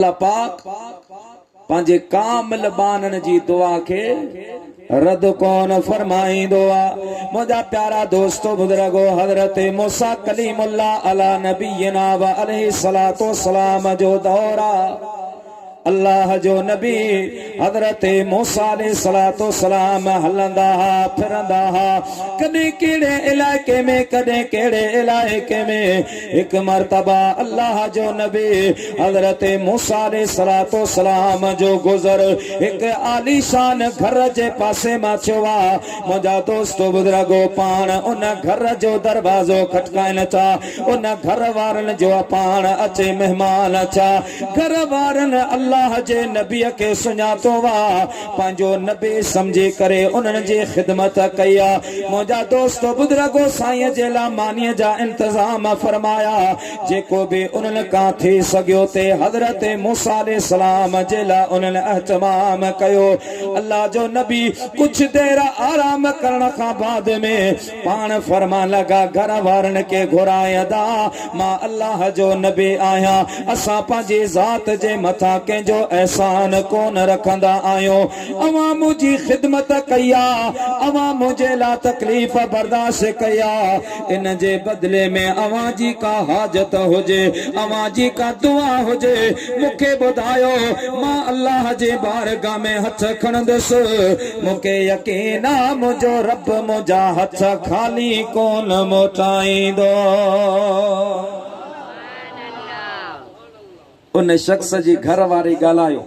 الله پاڪ پنهنجي ڪامل ٻانهن جي دعا کي رد ڪون فرمائيندو آ منهنجا پيارا دوستو بزرگو حضرت موسا کليم الله علا نبينا و عليه الصلاه والسلام جو دور آ الله جو نبي حضرت موسا عليه الصلاه والسلام هلندا ها ڦرندا ها ڪڏهن ڪهڙي علائقي ۾ ڪڏهن ڪهڙي علائقي ۾ هڪ مرتبه الله جو نبي حضرت موسيٰ عليه الصلوة والسلام جو گذر هڪ عاليشان گهر جي پاسي مان ٿيو آ، منهنجا دوست بزرگو پاڻ ان گهر جو دروازو کٽڪائن ٿا، ان گهر وارن جو پاڻ اچي مهمان ٿيا، گهر وارن الله جي نبي کي سڃاتو آ، پنهنجو نبي سمجهي ڪري انهن جي خدمت ڪئي آ منهنجا دوستو بزرگو سائين جي لا ماني جا انتظام فرمايا جيڪو به انهن کان ٿي سگهيو تي حضرت موسي عليه السلام جي لا انهن اهتمام ڪيو الله جو نبي ڪجهه دير آرام ڪرڻ کان بعد ۾ پاڻ فرمان لڳا گهر وارن کي گهرائي ادا مان الله جو نبي آهيان اسان پنهنجي ذات جي مٿان ڪنهن جو احسان ڪونه رکندا آهيون اوهان منهنجي خدمت ڪئي آ اوهان منهنجي لا تڪليف برداشت ڪئي آ ان جي بدلي ۾ اوهان جي ڪا حاجت هجي اوهان جي ڪا دعا هجي مون کي ٻڌايو مان الله جي بارگاهه ۾ هٿ کڻندس مونکي يقين آ منهنجو رب منهنجا هٿ خالي ڪون موٽائيندو. ان شخص جي گهر واري ڳالهايو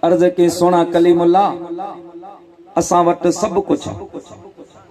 عرض ڪئي سهڻا ڪليم الله اسان وٽ سڀ ڪجهه آ.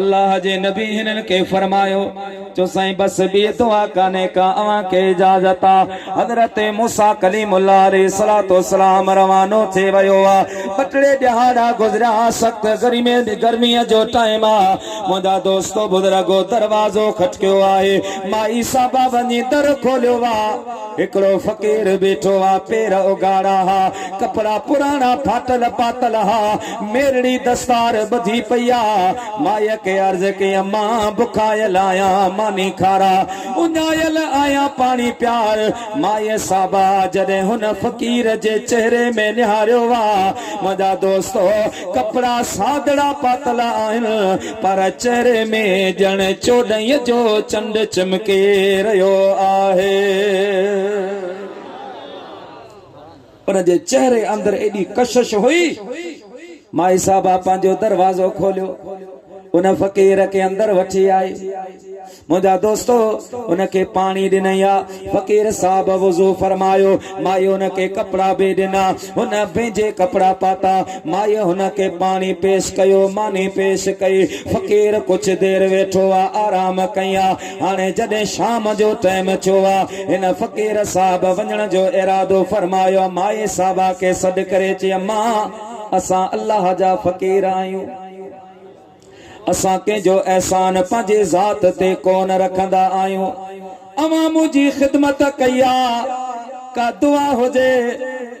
الله جي نبي هنن کي فرمايو، چو سائين بس ٻي دعا ڪانهي ڪا اوهان کي اجازت آ. حضرت موسيٰ ڪليم الله عليه الصلوة والسلام روانو ٿي ويو آ. ٻه ٽي ڏهاڙا گذريا سخت گرميء جو ٽائيم آ. منهنجا دوستو بزرگو دروازو کٽڪيو آهي. مائي صاحبه وڃي در کوليو آ. هڪڙو فقير بيٺو آ. پير اگهاڙا ها. ڪپڙا پراڻا ڦاٽل پاتل ها. ميرڙي دستار ٻڌي پئي آ. مائيء کي عرض ڪيم، مان بکايل آهيان، ماني کاراء. اڃايل آهيان، پاڻي پيار. مائيء صابا جڏهن هن فقير جي چهري ۾ نهاريو، واء منهنجا دوستو، ڪپڙا سادڙا پاتل آهن، پر چهري ۾ ڄڻ چوڏهينء جو چنڊ چمڪي رهيو آهي. ان جي چهري اندر ايڏي ڪشش هئي. مائي صاحبه پنهنجو دروازو کوليو. ان فقير کي اندر وٺي آئي. منهنجا دوستو ان کي پاڻي ڏنئي ها. فقير صاحب وضو فرمايو. مائي ان کي ڪپڙا به ڏنا. هن پنهنجي ڪپڙا پاتا. مائي هن کي پاڻي پيش ڪيو، ماني پيش ڪئي. فقير ڪجهه دير ويٺو ها، آرام ڪئي ها. هاڻي جڏهن شام جو ٽيم ٿيو ها، هن فقير صاحب وڃڻ جو ارادو فرمايو ها، مائي صاحبه کي سڏ ڪري چي اما! اسان الله جا فقير آهيون، اسان ڪنهن جو احسان پنهنجي ذات تي ڪونه رکندا آهيون، اوهان منهنجي خدمت ڪئي آهي، ڪا دعا هجي.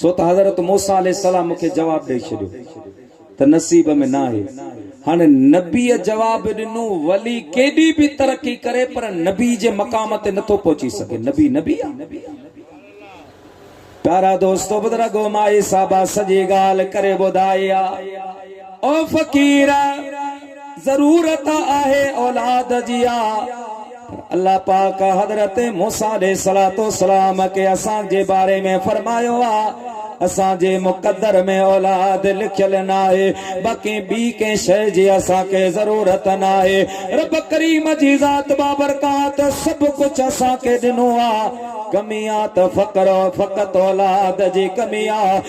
سو ته حضرت موسيٰ عليه السلام مون کي جواب ڏئي ڇڏيو ته نصيب ۾ ناهي. هاڻي نبيء جواب ڏنو، ولي ڪيڏي به ترقي ڪري پر نبي جي مقام تي نٿو پهچي سگهي. نبي نبي آ. پيارا دوستو بزرگو مائي صاحبه سڄي ڳالهه ڪري ٻڌائي آ. او فقير! ضرورت آهي اولاد جي آ، پر الله پاڪ حضرت موسيٰ عليه السلام کي اسان جي باري ۾ فرمايو آ، اسان جي مقدر ۾ اولاد لکيل ناهي، باقي ٻي ڪنهن شيء جي اسان کي ضرورت ناهي. رب ڪريم جي ذات بابرڪات سڀ ڪجهه اسان کي ڏنو آ، ڪمي آ ته فقط اولاد جي ڪمي آ.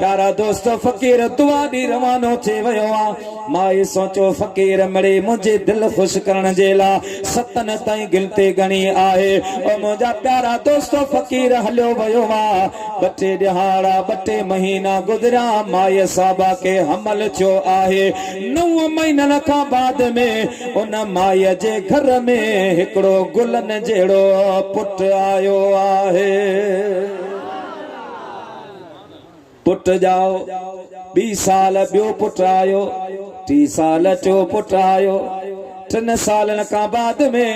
پيارا دوستو فقير دعا ڏي روانو ٿي ويو آ مائي سوچو فقير مڙي منهنجي دل خوش ڪرڻ جي لا ستن تائين گنتي ڳڻي آهي او منهنجا پيارا دوستو فقير هليو ويو آ ٻه ٽي ڏهاڙا ٻه ٽي مهينا گذريا مائي صاحبه کي حمل ٿيو آهي نو مهينن کان بعد ۾ ان مائي جي گهر ۾ هڪڙو گلن جهڙو پٽ آيو آهي. پٽ ڄائو. ٻي سال ٻيو پٽ آيو. ٽي سال ٽيو پٽ آيو. ٽن سالن کان بعد ۾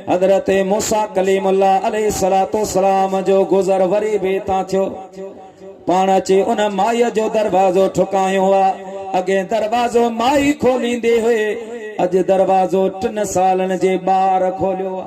حضرت موسيٰ ڪليم الله عليه الصلوة والسلام جو گذر وري به اتان ٿيو. پاڻ اچي ان مائيء جو دروازو ٺڪايون ها. اڳي دروازو مائي کوليندي هئي. اڄ دروازو ٽن سالن جي ٻار کوليو ها.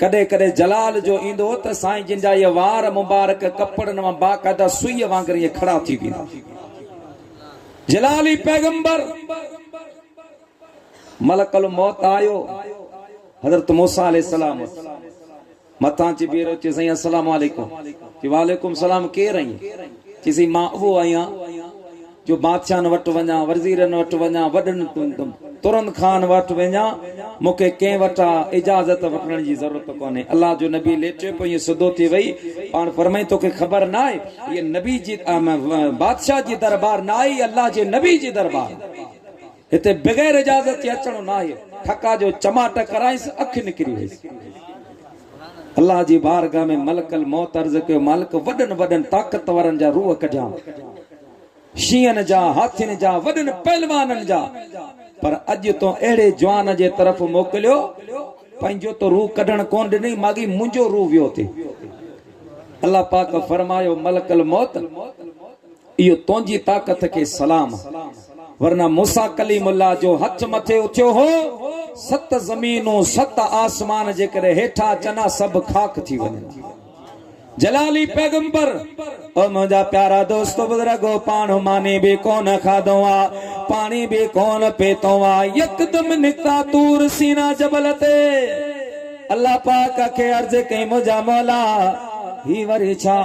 ڪڏهن ڪڏهن جلال جو ايندو هو ته سائين جن جا اهي وار مبارڪ ڪپڙن مان باقاعده سوئيء وانگر ائين کڙا ٿي ويندا هئا. جلال ئي پيغمبر ملڪ الموت آيو، حضرت موسيٰ عليه السلام اٿي مٿان اچي بيهرو، چيو سائين السلام عليڪم، چيو وعليڪم السلام، ڪير ائين؟ چيو سائين مان اهو آهيان. جو بادشاهن وٽ وڃان، ورزيرن وٽ وڃان، وڏن ترن خان وٽ وڃان، مون کي ڪنهن وٽان اجازت وٺڻ جي ضرورت ڪونهي. الله جو نبي ليٽيو پيو ائين سڌو ٿي ويهي، پاڻ فرمائي توکي خبر ناهي هيء نبي جي بادشاهه جي دربار ناهي، هيء الله جي نبي جي دربار آهي. هتي بغير اجازت جي اچڻو ناهي. ٺڪا جو چماٽ ڪرايس، اک نڪري ويس. الله جي بارگاهه ۾ ملڪ الموت عرض ڪيو، مالڪ وڏن وڏن طاقتورن جا روح ڪڍيان، شينهن جا، هاٿين جا، وڏن پهلوانن جا، پر اڄ تون اهڙي جوان جي طرف موڪليو، پنهنجو ته روح ڪڍڻ ڪونه ڏنئي، ماڳهين منهنجو روح ويو ٿي. الله پاڪ فرمايو، ملڪ الموت! اهو تنهنجي طاقت کي سلام آ. ورنه موسيٰ ڪليم الله جو هٿ مٿي اٿيو هو، ست زمينون، ست آسمان جيڪڏهن هيٺان اچن ها سڀ خاڪ ٿي وڃن ها. جلالي پيغمبر! او منهنجا پيارا دوستو بزرگو! پاڻ ماني به ڪونه کاڌو آ، پاڻي به ڪونه پيتو آ، يڪدم نڪتا طور سينا جبل تي. الله پاڪ کي عرض ڪئي منهنجا مولا! هي وري ڇا؟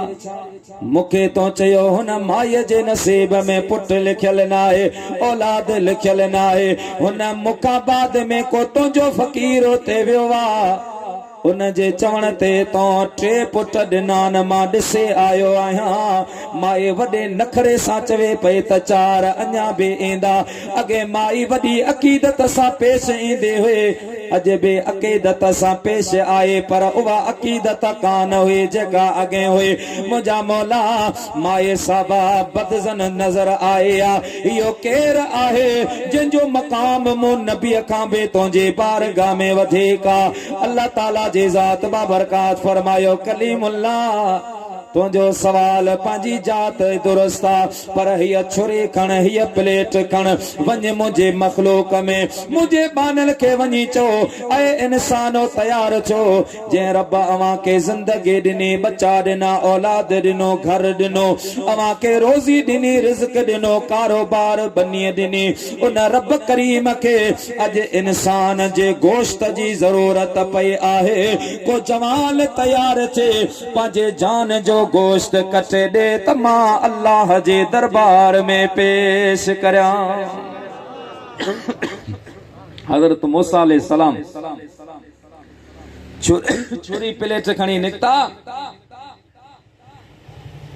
مون کي تو چيو هن مائي جي نصيب ۾ پٽ لکيل ناهي اولاد لکيل ناهي هن مڪاباد ۾ ڪو تنهنجو فقير اتي ويو آ ان جي چوڻ تي تون ٽي پٽ ڏنان مان ڏسي آيو آهيان مائي وڏي نخري سان چوي پئي ته چار اڃا به ايندا اڳي مائي وڏي عقيدت سان پيش ايندي هئي اڄ به عقيدت سان پيش آئي پر اها عقيدت ڪانه هئي جيڪا اڳين هئي منهنجا مولا مائي صاحبه بدظن نظر آئي ها اهو ڪير آهي جنهن جو مقام مون نبي کان به تنهنجي بارگاھ ۾ وڌيڪ آ الله تعالي جي ذات بابرڪات فرمايو ڪليم الله تنهنجو سوال پنهنجي جات درست آ پر هيء ڇري کڻ، هيء پليٽ کڻ، وڃ منهنجي مخلوق ۾، منهنجي ٻانهل کي وڃي چئو، اي انسانو! تيار ٿيو، جنهن رب اوهان کي زندگي ڏني، ٻچا ڏنا، اولاد ڏنو، گهر ڏنو، اوهان کي روزي ڏني، رزق ڏنو، ڪاروبار، ٻنيء ڏني، ان رب ڪريم کي اڄ انسان جي گوشت جي ضرورت پئي آهي، ڪو جوان تيار ٿئي، پنهنجي جان جو گوشت ڪٽي ڏي ته مان الله جي دربار ۾ پيش ڪريان. حضرت موسيٰ عليه السلام ڇري پليٽ کڻي نڪتا.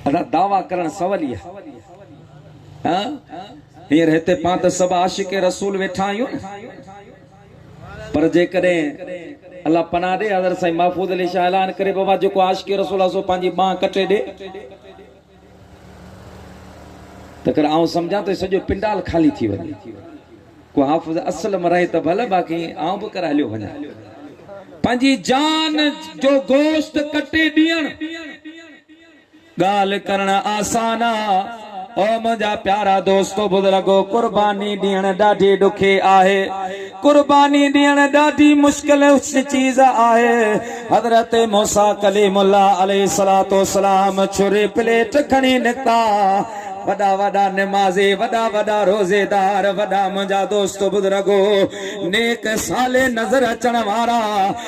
ادا دعويٰ ڪرڻ سولي آهي. هينئر هتي پانت سڀ عاشق رسول ويٺا آهيون نه. پر جيڪڏهن الله پناهه ڏي حضرت سائين محفوظ علي شاهه اعلان ڪري بابا جيڪو عاشق رسول الله سو پنهنجي ٻانهن ڪٽي ڏي ته ڪر آئون سمجهان ته سڄو پنڊال خالي ٿي وڃي ڪو حافظ اصل م رهي ته ڀل باقي آئون به ڪر هليو وڃان پنهنجي جان جو گوشت ڪٽي ڏيڻ ڳالهه ڪرڻ آسان آ. او منهنجا پيارا دوستو بزرگو قرباني ڏيڻ ڏاڍي ڏکي آهي قرباني ڏيڻ ڏاڍي مشڪل چيز آهي حضرت موسيٰ ڪليم الله عليه الصلوة والسلام ڇري پليٽ کڻي نڪتا وڏا وڏا نمازي وڏا وڏا روزي دار وڏا منهنجا دوستو بزرگو نيڪ صالح نظر اچڻ وارا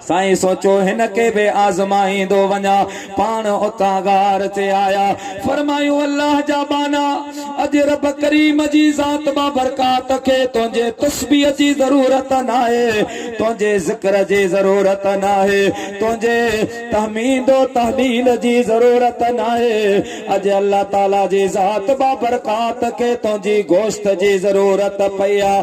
سائين سوچو هن کي به آزمائيندو وڃان. پاڻ اتان غار تي آيا. فرمايون الله جا ٻانها! اڄ رب ڪريم جي ذات مان برڪات کي تنهنجي تسبيح جي ضرورت ناهي، تنهنجي ذڪر جي ضرورت ناهي، تنهنجي تحميد و تهليل جي ضرورت ناهي، اڄ الله تعاليٰ جي ذات مان برڪات کي تنهنجي گوشت جي ضرورت پئي آ.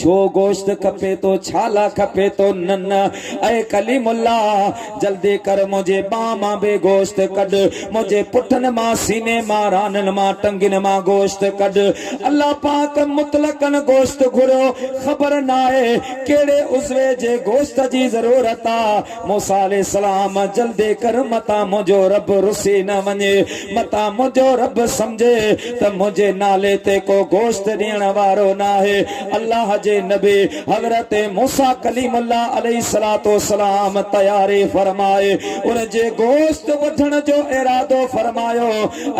ڇو گوشت کپي ٿو ڇالا کپي ٿو نه نه اي ڪليم الله جلدي ڪر منهنجي ٻانهن مان به گوشت ڪڍ منهنجي پٺن مان سيني مان رانن مان ٽنگين مان گوشت ڪڍ الله پاڪ مطلقاً گوشت گهريو خبر ناهي ڪهڙي عضوي جي گوشت جي ضرورت آ موسيٰ عليه السلام، جلدي ڪر متان منهنجو رب رسي نه وڃي، متان منهنجو رب سمجهي ته منهنجي نالي تي ڪو گوشت ڏيڻ وارو ناهي. الله جي نبي حضرت موسيٰ ڪليم الله عليه الصلوة والسلام تياري فرمائي ان جي گوشت وڍڻ جو ارادو فرمايو.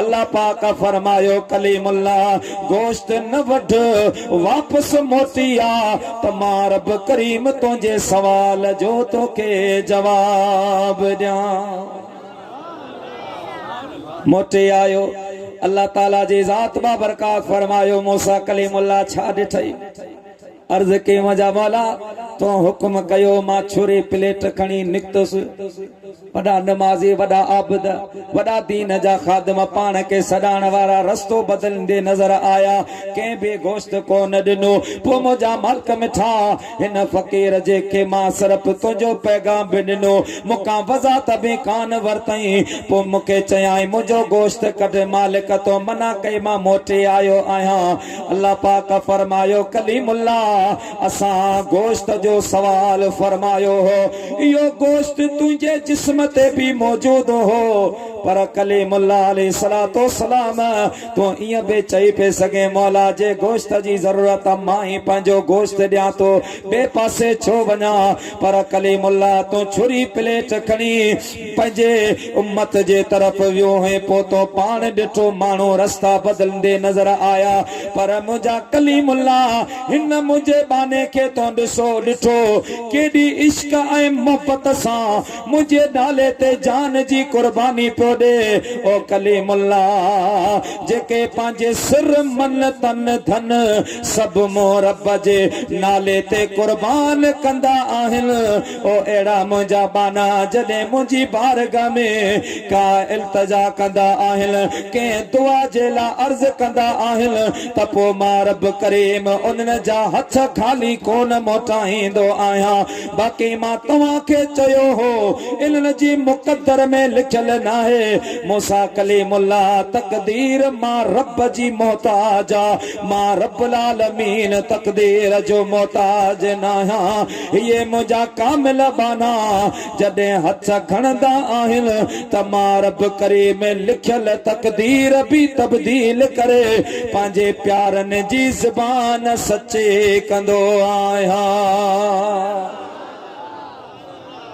الله پاڪ فرمايو، ڪليم الله! گوشت نه وڍ، واپس موٽي آ. ته مان رب ڪريم تنهنجي سوال جو توکي جواب ڏيان. موٽي آيو، الله تعالي جي ذات بابرڪات فرمايو، موسيٰ ڪليم الله ڇا ڏٺئي؟ عرض ڪيم جا مولا! تون حڪم ڪيو، مان ڇري پليٽ کڻي نڪتس. وڏا نمازي، وڏا عابد، وڏا دين جا خادم پاڻ کي سڏائڻ وارا رستو بدليندي نظر آيا. ڪنهن به گوشت ڪو نه ڏنو. پوء منهنجا مالڪ مٺا، هن فقير جي کي مان صرف تنهنجو پيغام به ڏنو، مون کان وضاحت به ڪانه ورتئين. پوء مون کي چيائين، منهنجو گوشت ڪڍ، مالڪ تون منع ڪئي مان موٽي آيو آهيان. الله پاڪ فرمايو، ڪليم الله! اسان گوشت جو سوال فرمايو هو، اهو گوشت تنهنجي جسم تي به موجود هو، پر ڪليم الله عليه الصلوة والسلام تون ائين به چئي پئي سگهين، مولا جي گوشت جي ضرورت آ مان ئي پنهنجو گوشت ڏيان ٿو، ٻئي پاسي ڇو وڃان، پر ڪليم الله تون ڇري پليٽ کڻي. پنهنجي امت جي طرف ويو هئين پوء تو پاڻ ڏٺو ماڻهو رستا بدلندي نظر آيا پر منهنجا ڪليم الله هن منهنجي ٻانهي کي تون ڏسو ڏٺو ڪيڏي عشق ۽ محبت سان منهنجي نالي تي جان جي قرباني پيو ڏي او ڪليم الله جيڪي پنهنجي سر من تن ڌن سڀ مون رب جي نالي تي قربان ڪندا آهن او اهڙا منهنجا ٻانها جڏهن منهنجي بارگاهه ۾ ڪا التجا ڪندا آهن، ڪنهن دعا جي لاء عرض ڪندا آهن ته پوء مان رب ڪريم انهن جا هٿ خالي ڪونه موٽائيندو آهيان. باقي مان توهان کي چيو هو، انهن جي مقدر ۾ لکيل ناهي. موسيٰ ڪليم الله تقدير مان رب جي محتاج آ، مان رب العالمين تقدير جو محتاج ناهيان. هي منهنجا ڪامل ٻانها جڏهن هٿ کڻندا آهن ته مان رب ڪريم ۾ لکيل تقدير به تبديل ڪري پنهنجي پيارن جي زبان سچي ڪندو آهيان.